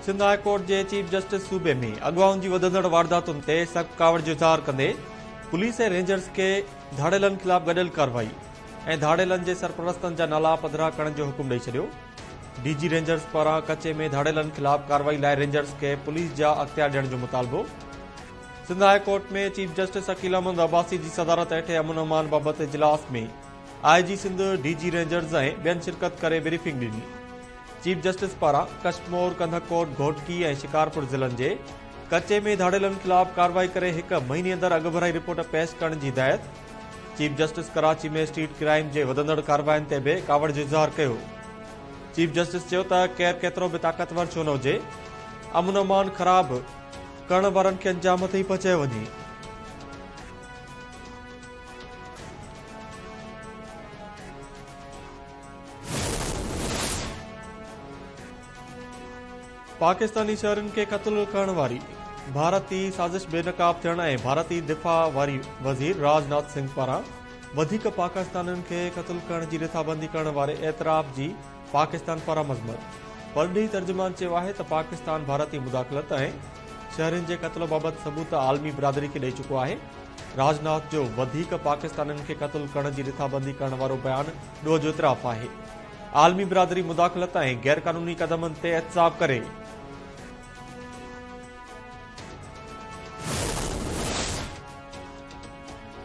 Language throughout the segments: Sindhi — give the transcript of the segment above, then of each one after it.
سنڌ هاء ڪورٽ جي چيف جسٽس صوبي ۾ اغوائن جي وڌندڙ وارداتن تي سخت ڪاوڙ جو اظهار ڪندي پوليس ۽ رينجرز کي ڌاڙيلن خلاف گڏيل ڪارروائي ۽ ڌاڙيلن جي سرپرستن جا نالا پڌرا ڪرڻ جو حڪم ڏئي ڇڏيو ڊي جي رينجرز پاران ڪچي ۾ ڌاڙيلن خلاف ڪارروائي لاء رينجرز کي پوليس جا اختيار ڏيڻ جو مطالبو Sindh high court ۾ chief justice Aqeel Ahmed Abbasi جي صدارت هيٺ امن امان بابت اجلاس ۾ I G Sindh, D G rangers ۽ ٻين شرڪت ڪري بريفنگ ڏني. چيف جسٽس پاران ڪشمور، ڪنڌڪوٽ، گهوٽڪي ۽ شڪارپور ضلعن جي ڪچي ۾ ڌاڙيلن خلاف ڪارروائي ڪري هڪ مهيني اندر اڳڀرائي رپورٽ پيش ڪرڻ جي هدايت. Chief justice Karachi ۾ street crime جي وڌندڙ ڪاررواين تي به ڪاوڙ جو اظهار ڪيو. چيف جسٽس چيو ته ڪير ڪيترو به طاقتور ڇو نه هجي، امن امان خراب ڪرڻ وارن کي انجام هٿ ئي پهچايو وڃي. پاڪستاني شهرين کي قتل ڪرڻ واري ڀارتي سازش بي نقاب ٿيڻ ۽ ڀارتي دفاع واري وزير راج ناٿ سنگهه پاران وڌيڪ پاڪستانين کي قتل ڪرڻ جي رٿابندي ڪرڻ واري اعتراف جي پاڪستان پاران مذمت، پرڏيهي ترجمان چيو آهي ته پاڪستان ڀارتي مداخلت ۽ شهرين جي قتل بابت ثبوت عالمي برادري کي ڏئي چڪو آهي، راج ناٿ جو وڌيڪ پاڪستانين کي قتل ڪرڻ جي رٿابندي ڪرڻ وارو بيان ڏوهه جو اعتراف آهي، عالمي برادري مداخلت ۽ غيرقانوني قدمن تي احتساب ڪري.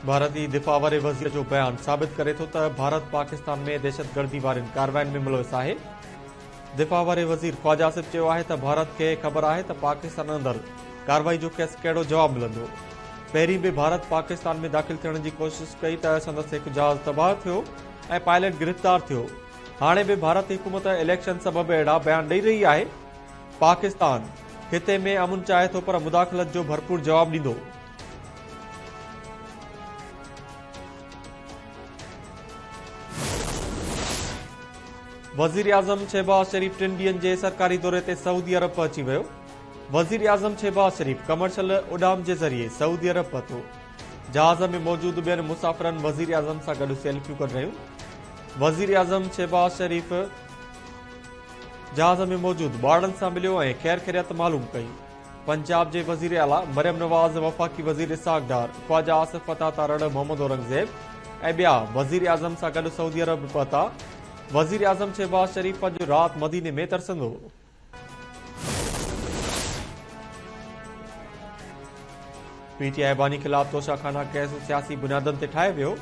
ڀارتي دفاع واري وزير جو بيان ثابت ڪري ٿو ته ڀارت پاڪستان ۾ دهشتگردي وارين ڪارواين ۾ ملوث آهي. دفاع واري وزير خواجه آصف چيو آهي ته ڀارت کي خبر آهي ته پاڪستان اندر ڪارروائي جو کيس ڪهڙو جواب ملندو. پهرين به ڀارت پاڪستان ۾ داخل ٿيڻ جي ڪوشش ڪئي ته سندس هڪ جهاز تباهه ٿيو ۽ پائليٽ گرفتار ٿيو. هاڻي به ڀارتي حڪومت اليڪشن سبب اهڙا بيان ڏئي رهي آهي. پاڪستان خطي ۾ امن چاهي ٿو پر مداخلت جو ڀرپور جواب ڏيندو. وزيراعظم شهباز شريف ٽن ڏينهن جي سرڪاري دوري تي سعودي عرب پهچي ويو وزيراعظم شهباز شريف ڪمرشل اڏام جي ذريعي سعودي عرب پهتو جهاز ۾ موجود ٻين مسافرن وزيراعظم سان گڏ سيلفيون ڪڍ رهيون وزيراعظم شهباز شريف جهاز ۾ موجود ٻارڙن سان مليو ۽ خير خيريت معلوم ڪئي پنجاب جي وزير اعليٰ مريم نواز، وفاقي وزير اسحاق ڊار، خواجا آصف پتاه تارڙ، محمد اورنگزيب ۽ ٻيا وزيراعظم سان گڏ سعودي عرب پهتا، وزيراعظم شهباز شريف اڄ رات مديني ۾ ترسندو. پي ٽي آء باني خلاف توشاخانا ڪيس سياسي بنيادن تي ٺاهيو ويو،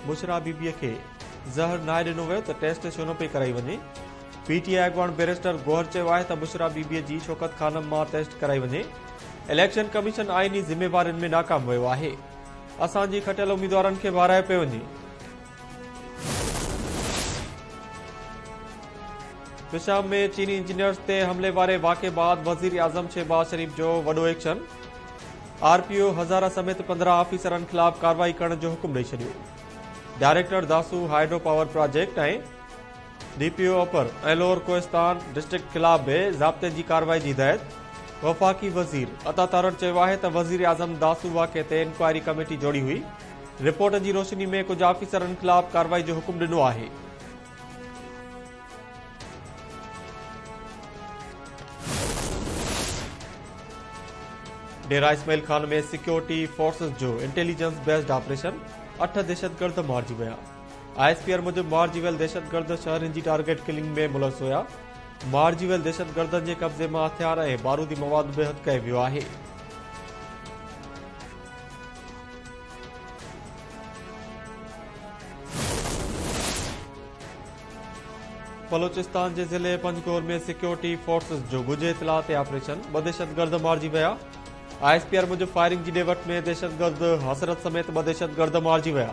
بشريٰ بي بي کي زهر ناهي ڏنو ويو ته ٽيسٽ ڇو نه پئي ڪرائي وڃي؟ پي ٽي آء اڳواڻ بئريسٽر گوهر چيو آهي ته بشريٰ بي بي جي شوڪت خانم مان ٽيسٽ ڪرائي وڃي، اليڪشن ڪميشن آئيني ذميوارين ۾ ناڪام ويو آهي، اسان جي کٽيل اميدوارن کي به هارايو پيو وڃي. پشاور ۾ چيني انجنيئرز تي حملي واري واقعي بعد وزيراعظم شهباز شريف جو وڏو action, R P O Hazara سميت پندرهن آفيسرن خلاف ڪارروائي ڪرڻ جو حڪم ڏئي ڇڏيو، director Dasu hydro power project ۽ D P O upper ۽ lower Kohistan district خلاف به ضابطي جي ڪارروائي جي هدايت، وفاقي وزير عطا تارڙ چيو آهي ته وزيراعظم داسو واقعي تي انڪوائري ڪميٽي جوڙي هئي، رپورٽ جي روشني ۾ ڪجهه آفيسرن خلاف ڪارروائي جو حڪم ڏنو آهي. ڊيرا اسماعيل خان ۾ سيڪيورٽي فورسز جو انٽيليجنس بيسڊ آپريشن، اٺ دهشتگرد مارجي ويا. آء ايس پي آر موجب مارجي ويل دهشتگرد شهرين جي ٽارگيٽ ڪلنگ ۾ ملوث هيا، مارجي ويل دهشتگردن جي قبضي مان هٿيار ۽ بارودي مواد به هٿ ڪيو ويو آهي. بلوچستان جي ضلعي پنجگور ۾ سيڪيورٽي فورسز جو ڳجهه اطلاع تي آپريشن، ٻه دهشتگرد مارجي ويا، آء ايس پي آر موجب فائرنگ جي ڏي وٺ ۾ دهشتگرد حسرت سميت ٻه دهشتگرد مارجي ويا.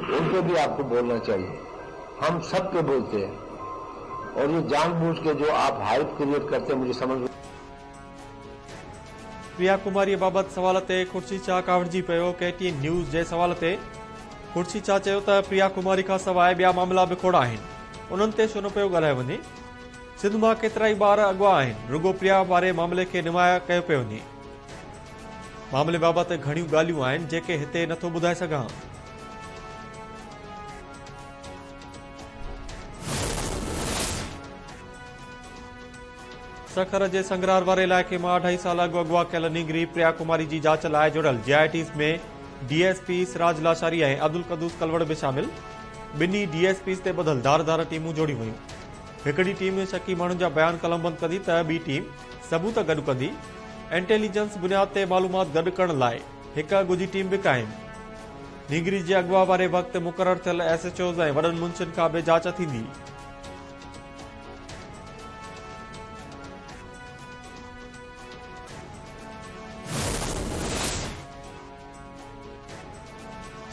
ان پي بي آپڪو بولنا چاھيي ھم سب پي بولتي ھي اور يي جان بوجھ ڪي جو آپ ھائپ ڪريئيٽ ڪرتي ھي مجھي سمجھ ويا ڪماري بابت سوال تي خورشيد شاھ ڪاوڙجي پيو ڪي ٽي اين نيوز جي سوال تي خورشيد شاھ چيو ته پريا ڪماري کان سواء ٻيا معاملا به کوڙا آهن انهن تي ڇو نه پيو ڳالهايو وڃي سنڌ مان ڪيترائي ٻار اغوا آهن رڳو پريا واري معاملي کي نمايان ڪيو پيو وڃي معاملي بابت گهڻيون ڳالهيون آهن جيڪي هتي نٿو ٻڌائي سگهان. سکر جي سنگرار واري علائقي مان اڍائي سال اڳ اغوا ڪيل نينگري پريا ڪماري جي جاچ لاء جڙيل J I Ts ۾ D S P Siraj Lashari ۽ Abdul Quddus Kalor به شامل ٻنهي ڊي ايس پيز تي ٻڌل ڌار ڌار ٽيمون جوڙيون ويون هڪڙي ٽيم شڪي ماڻهن جا بيان قلمبند ڪندي ته ٻي ٽيم ثبوت گڏ ڪندي انٽيليجنس بنياد تي معلومات گڏ ڪرڻ لاء هڪ اڳوجي ٽيم به قائم. نينگري جي اغوا واري وقت مقرر ٿيل ايس ايچ اوز ۽ وڏن منشين کان به جاچ ٿيندي.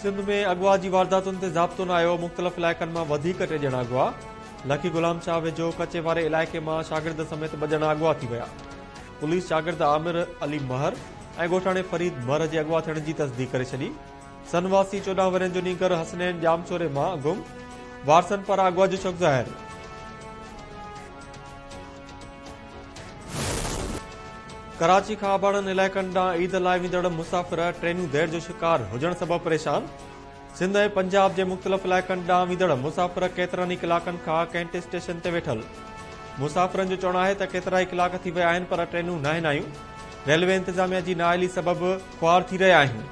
سنڌ ۾ اغوا جي وارداتن تي ضابطو نه آيو، مختلف علائقن مان وڌيڪ ٽي ڄڻا اغوا، لڪي غلام شاهه ويجهو ڪچي واري علائقي مان شاگرد سميت ٻه ڄڻا اغوا ٿي ويا، پوليس شاگرد عامر علي مهر ۽ ڳوٺاڻي فريد مهر جي اغوا ٿيڻ جي تصديق ڪري ڇڏي، سن واسي چوڏهن ورهين جو نينگر حسنين ڄامشوري مان گم، وارثن پاران اغوا جو شڪ ظاهر. ڪراچي کان اباڻن علائقن ڏانهن عيد لاء ويندڙ مسافر ٽرينون دير جو شڪار هجڻ سبب پريشان، سنڌ ۽ پنجاب جي مختلف علائقن ڏانهن ويندڙ مسافر ڪيترن ئي ڪلاڪن کان ڪينٽ اسٽيشن تي ويٺل مسافرن جو چوڻ آهي ته ڪيترائي ڪلاڪ ٿي ويا آهن پر ٽرينون ناهن آيون، ريلوي انتظاميا جي نااهلي سبب خوار ٿي رهيا آهيون.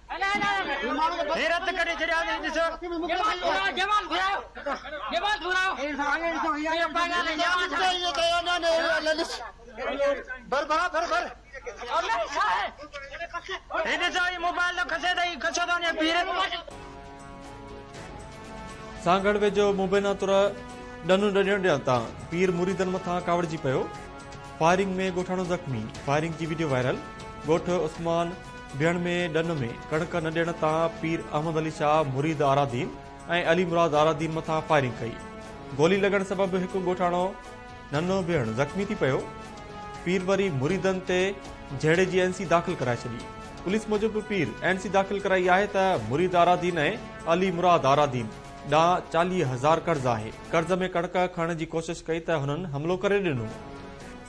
سانگهڙ ويجهو مبينا تر ڏنو ڏڏڻ ڏيڻ تان پير مريدن مٿان ڪاوڙجي پيو، فائرنگ ۾ ڳوٺاڻو زخمي، فائرنگ جي وڊيو وائرل، ڳوٺ عثمان. ڏيڻ ۾ ڏن ۾ ڪڻڪ نه ڏيڻ تان پير احمد علي شاهه مريد آرادين ۽ علي مراد آرادين مٿان فائرنگ ڪئي. گولي لڳڻ سبب هڪ ڳوٺاڻو ننهن ڀيڻ زخمي ٿي پيو. پير وري مريدن تي جهيڙي جي اين سي داخل ڪرائي ڇڏي. پوليس موجب پير اين سي داخل ڪرائي آهي ته مريد آرادين ۽ علي مراد آرادين ڏانهن چاليهه هزار قرض آهي. قرض ۾ ڪڻڪ کڻڻ جي ڪوشش ڪئي ته هنن حملو ڪري ڏنو.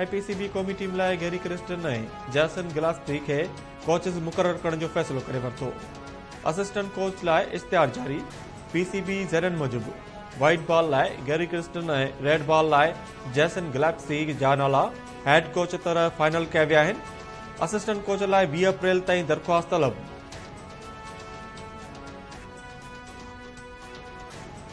اي پي سي بي قومي ٽيم لاء گيري ڪرسٽن ۽ جيسن گلاسٽري کي ڪوچز مقرر ڪرڻ جو فيصلو ڪري ورتو، اسسٽنٽ ڪوچ لاء اشتهار جاري، پي سي بي ذريعن موجب وائيٽ بال لاء گيري ڪرسٽن ۽ ريڊ بال لاء جيسن گلاسٽري جا نالا هيڊ ڪوچ طرح فائنل ڪيا ويا آهن، اسسٽنٽ ڪوچ لاء ويهه اپريل تائين درخواست طلب.